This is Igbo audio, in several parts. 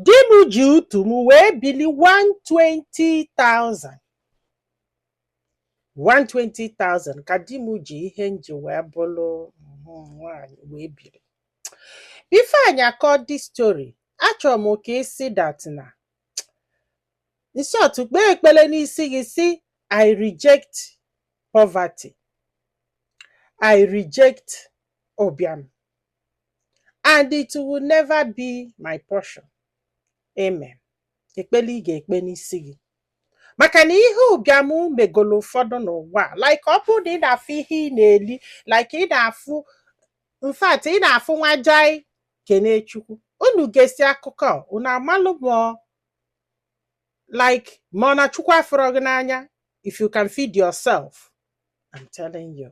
Di m ji ọtụ m wee bili 120,000. 120,000 ka di m ji ihe m ji wee bụrụ nwaanyị wee biri. Before anyị akọ the story, achọrọ m ka ị sị that na in short kpee ekpele n'isi gị sị I reject poverty. I reject ụbịam. and it will never be my portion amen ekpele ị ga-ekpe n'isi gị maka na ihe ụbịam megolo ụfọdụ n'ụwa like ọ bụrụ na ị na-afụ ihe ị na-eli like ị na-afụ in fact ị na-afụ nwa jai kene Chukwu unu gesi akụkọ unu amalụ ma ọ like ma ọ na Chukwu afụrọ gị n'anya if you can feed yourself I'm telling you.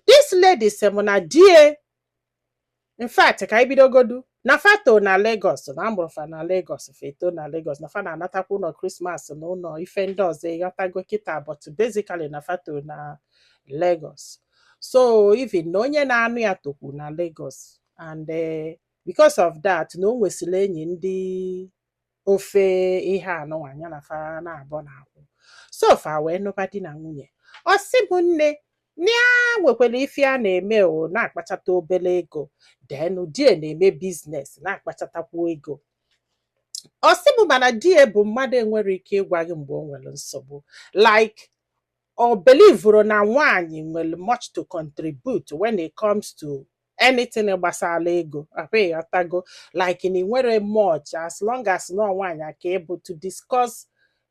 This lady sị m na di e in fact ka anyị bidogodu na fa to na Lagos na a mụrụ fa na Lagos fa eto na Lagos na fa na-anatakwa ụnọ Christmas na ụnọ ife ndị ọzọ ị ghọtago kịta but basically na fa to na Lagos so even na onye na-anụ ya tokwu na Lagos and eh, because of that na o nwesịrị enyi ndị ofe ihe anụnwa ya na fa naabọ na-akwụ so fa wee nụba di na nwunye ọ sị m nne na ya nwekwara ife ya na-eme ọ na-akpachata obere ego then di e na-eme business na-akpachatakwu ego ọ sị m mana di e bụ mmadụ enwerọ ike ịgwa gị mgbe o nwere nsogbu like ọ belivuru na nwaanyị enwerọ much to contribute when it comes to anything gbasara ego ọkwa ị ghọtago like na i nwerọ much as long as na nwaanyị ka ị bụ to discuss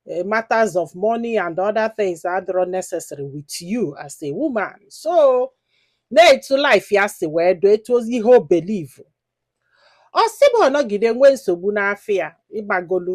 eh, matters of money and other things adịrọ necessary with you as a woman so na etu life ya si wee dụ etu o si ihe o believe ọ sị m ọ nọgide nwee nsogbu n'afịa ịgbagolu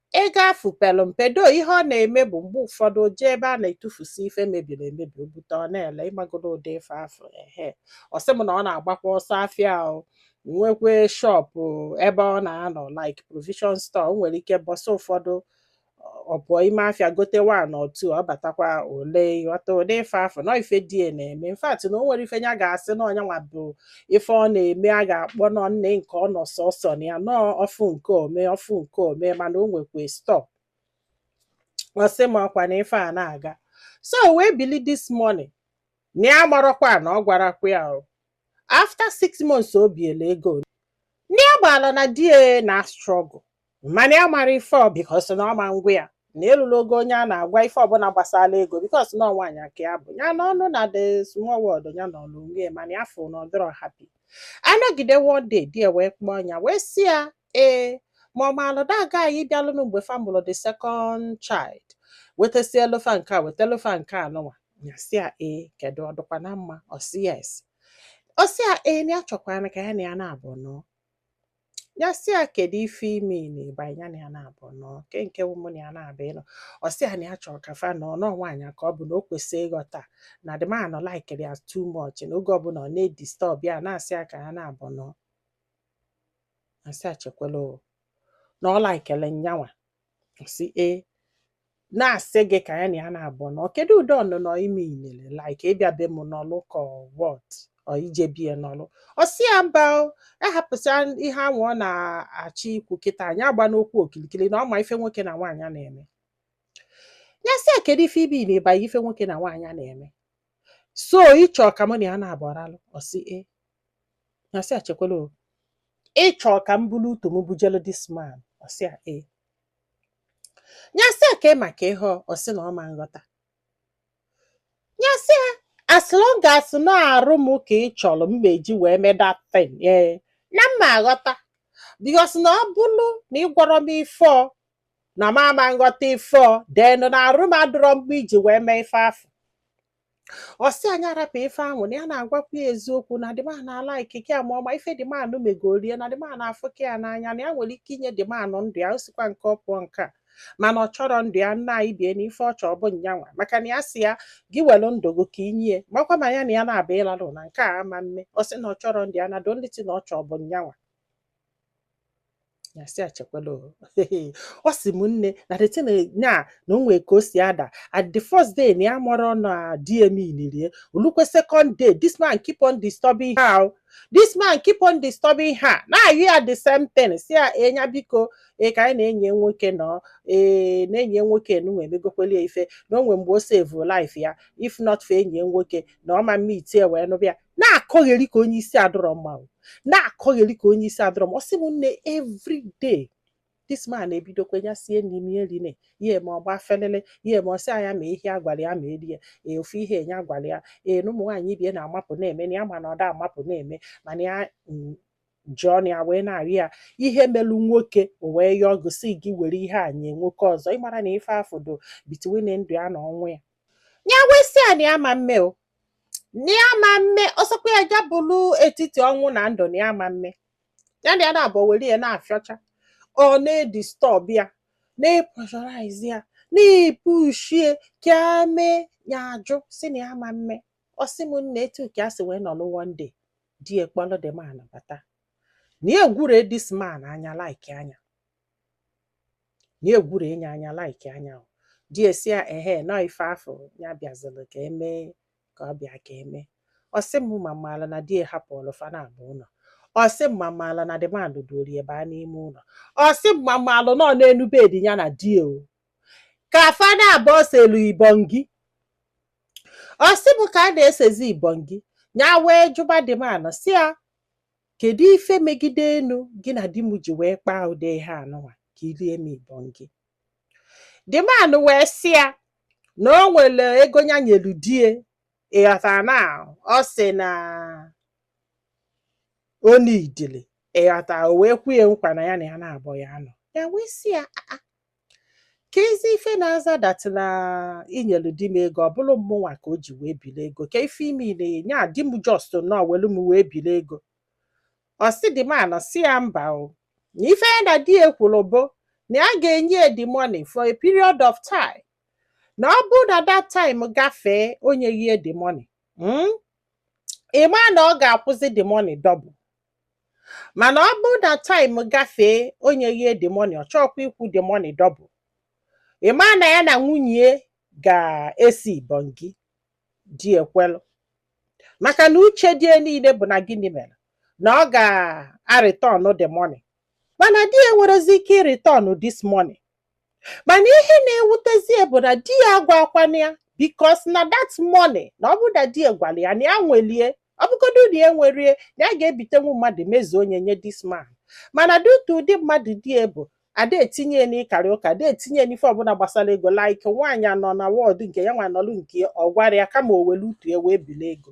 Ego afụ pelu mpe though ihe ọ na-eme bụ mgbe ụfọdụ o jee ebe a na-etufusi ife mebiri emebi o bute ọ na-ele ị magodu ụdị ife afụ ehe ọ sị m na ọ na-agbakwa ọsọ afịa o nwekwe shop ebe ọ na-anọ like provision store o nwere ike ụbọsị ụfọdụ ọ pụọ ime afịa gote one or two ọ batakwa o lee ị ghọta ụdị ife afụ na ọ ife di e na-eme in fact na o nwerọ ife ya ga-asị na ọ nya nwa bụ ife ọ na-eme a ga-akpọ nọ nne nke ọ nọ sọsọ na ya na ọ fụ nke o me ọ fụ nke o me mana o nwekwa store ọ sị m ọkwa na ife a na-aga so o wee bili this morning na ya amarọkwa na ọ gwarakwa ya o. after six months o biela ego na ya gbala na di ya na struggle mana ya mara ife ọ because na ọ ma ngwa ya na elula ogo onye a na-agwa ife ọbụla gbasara ego because na ọ nwaanyị aka ya bụ ya n'ọnụ na the small world ya na ọlụ nwunye mana ya fụ na ọ dịrọ happy anọgide one day di ya wee kpọọ ya wee sị ya ee ma ọ maalụ that guy bịalụnụ mgbe fa mụlụ the second child wetasie elofa nke a weta elofa nke a nụnwa ya sị ya ee kedu ọ dịkwa na mma ọ sị yes ọ sị ya ee na ya chọkwanụ ka ya na ya na-abụ anọọ ya sị ya kedu ife i mean by nya na ya na-abụ anọọ kee nke ọ mụ na ya na-abụ ịnọ ọ sị ya na ya chọrọ ka fa nọọ na ọ nwaanyị ka ọ bụ na o kwesịrị ịghọta na the man nụ likelụ ya too much na oge ọbụla ọ na-edisturb ya na-asị ya ka ya na-abụ anọọ ya sị ya chekwala o na ọ likelụ nyanwa sị ee na-asị gị ka ya na ya na-abụ anọọ kedu ụdị ọnụnọ i meanịlị like ịbịa be m nọlụ ka what or ije be ya nọlụ ọ sị ya mba o, ya hapụsịa ihe ahụ ọ na-achọ ikwu kịta nya agbana okwu okilikili na ọ ma ife nwoke na nwaanyị na-eme ya sị ya kedu ife i mean by ife nwoke na nwaanyị na-eme so ị chọ ka mụ na ya na-abụ aralụ ọ sị ee nya sị ya chekwala o ị chọ ka m bulu ọtụ m bujelu this man ọ sị ya ee nya sị ya ka ị maka ihe ọ, ọ sị na ọ ma nghọta nya sị ya as long as na arụ m ka ị chọrọ m ma-eji wee mee that thing ee na m ma aghọta because na ọ bụrụ na ị gwọrọ m ife ọ na m ama nghọta ife ọ then na arụ m adịrọ mma iji wee mee ife afụ ọ sị ya nya rapụ ife ahụ na ya na-agwakwu ya eziokwu na the man alikeka ya ma ọ ma ife the man nụ megoro ya na the man afụka ya n'anya na ya nwere ike inye the man nụ ndụ ya o sikwa nke ọ pụọ nke a mana ọ chọrọ ndụ ya nna anyị bie n'ife ọ chọọ bụ nyanwa maka na ya sị ya gị welu ndụ gị ka i nye ya makwa ma ya na ya na-abụ ịlalụ na nke a ama mme ọ sị na ọ chọrọ ndụ ya na the only thing na ọ chọọ bụ nyanwa ya sị ya chekwala o ọ sị m nne na the thing is na na o nwee ka o si ada at the first day na ya marọ na dm ilirie o lukwe second day this man keep on disturbing her o. this man keep on disturbing her na-ayọ ya the same thing sị ya nya biko ee ka nya na enyi nwoke nọọ ee na enyi nwoke nwa emegokwelu ya ife na o nwee mgbe o save life ya if not for enyi nwoke na ọ ma mmeet ya wee nụba ya na-akọgheri ka onye isi adịrọ mma na-akọgheri ka onye isi adịrọ mma ọ sị m nne every day this man ebidokwa ya sie nni ọ ma eri nya eme ọ gba felele ya eme ọ sị ya nya mee ihe a gwara ya ma erie ee ofu ihe nya gwara ya ee na ụmụ nwaanyị ibe ya na-amapụ na-eme na ya ma na ọ da amapụ na-eme mana ya mm, ji ọnụ ya wee na-arịọ ya ihe melu nwoke ọ wee yọọ gị sị gị were ihe a nye nwoke ọzọ ị mara na ife afụ dị between ndụ ya na ọnwụ ya ya wee sị ya na ya ma mme o na ya ma mme ọ sọkwa ya ja bụrụ etiti ọnwụ na ndụ na ya ma mme ya na ya na-abụ were ya na-afịọcha ọ na-edistọb ya na-epreshọraiz ya na-epushie ka a mee ya ajụ sị na ya ma mme ọ sị m na etu ka a si wee nọlụ one day die kpọlụ the man bata ya egwure this man anya like anya ya egwure nya anya like anya o die sị ya ehe na ọ ife afụ ya bịazịrị ka e mee ka ọ bịa ka e mee ọ sị m ma m maala na die hapụrụ fa naabọ n'ụlọ ọ sị m ma m maala na the man duorie baa n'ime ụlọ ọ sị m ma m maalụ na ọ n'elu bedi ya na di o ka fa naabọ selu ibongi ọ sị m ka a na-esezi ibongi ya wee jụba the man sị ya Kedu ife m megide unu gị na di m ji wee kpaa ụdị ihe anụnwa ka i lie m ibongi? The man wee sị ya na o nwere ego ya nyelu die ị ghọtara na ọ sị na o needili ị ghọtara o wee kwee ya nkwa na ya na ya naabọ ya-anọ ya wee sị ya "Ah, ah, kezi ife na-aza that na i nyelu di m ego ọ bụrụ mụnwa ka o ji wee bili ego ke ife ime ile ya nya di m just nọọ welu m wee bili ego ọ sị the man sị ya mba o na ife ya na di ya kwuru bụ na ya ga-enye ya the money for a period of time na ọ bụrụ na that time gafee o nyeghị ya the money mm? ị ma na ọ ga-akwụzi the money double mana ọ bụrụ na time gafee o nyeghie the money ọ chọọkwa ịkwụ the money double ị ma na ya na nwunye ya ga-ese ibongi die ekwelu maka na uche die niile bụ na gịnị mere na ọ ga-arịtọn the money mana die enwerezi ike ịrịtọn this money mana ihe na-ewutezi ya bụ na di ya agwakwana ya because na that money na ọ bụrụ na di ya gwara ya na ya nwelie ọ bụgodu na ya nwerie na ya ga-ebitenwu mmadụ mezuo nyenye this man mana due to ụdị mmadụ di ya bụ ada etinye ya n'ịkarị ụka ada etinye ya n'ife ọbụla gbasara ego like nwaanyị a nọ na world nke ya nwa nọlụ nke ya, ọ gwarọ ya kama o were ọtụ ya wee bili ego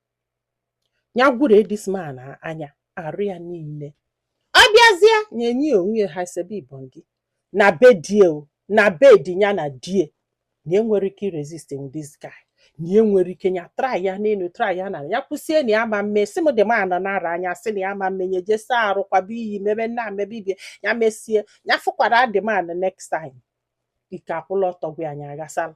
ya egwure this man anya arụ ya niile ọ bịazie nyenye ya onwe ya ha sebe ibongi na be die o na bed ya na die na enwere ike irezist this guy na enwere ike ya try ya n'elu try ya na ya kwụsie na ya ma mme sị m the man na-ara nya sị na ya ma mme nya je saa arụ kwaba iyi mebe nna mebe ibe ya mesie ya fụkwara the man next time ike akwụla ọtọ gwa anyị aghasala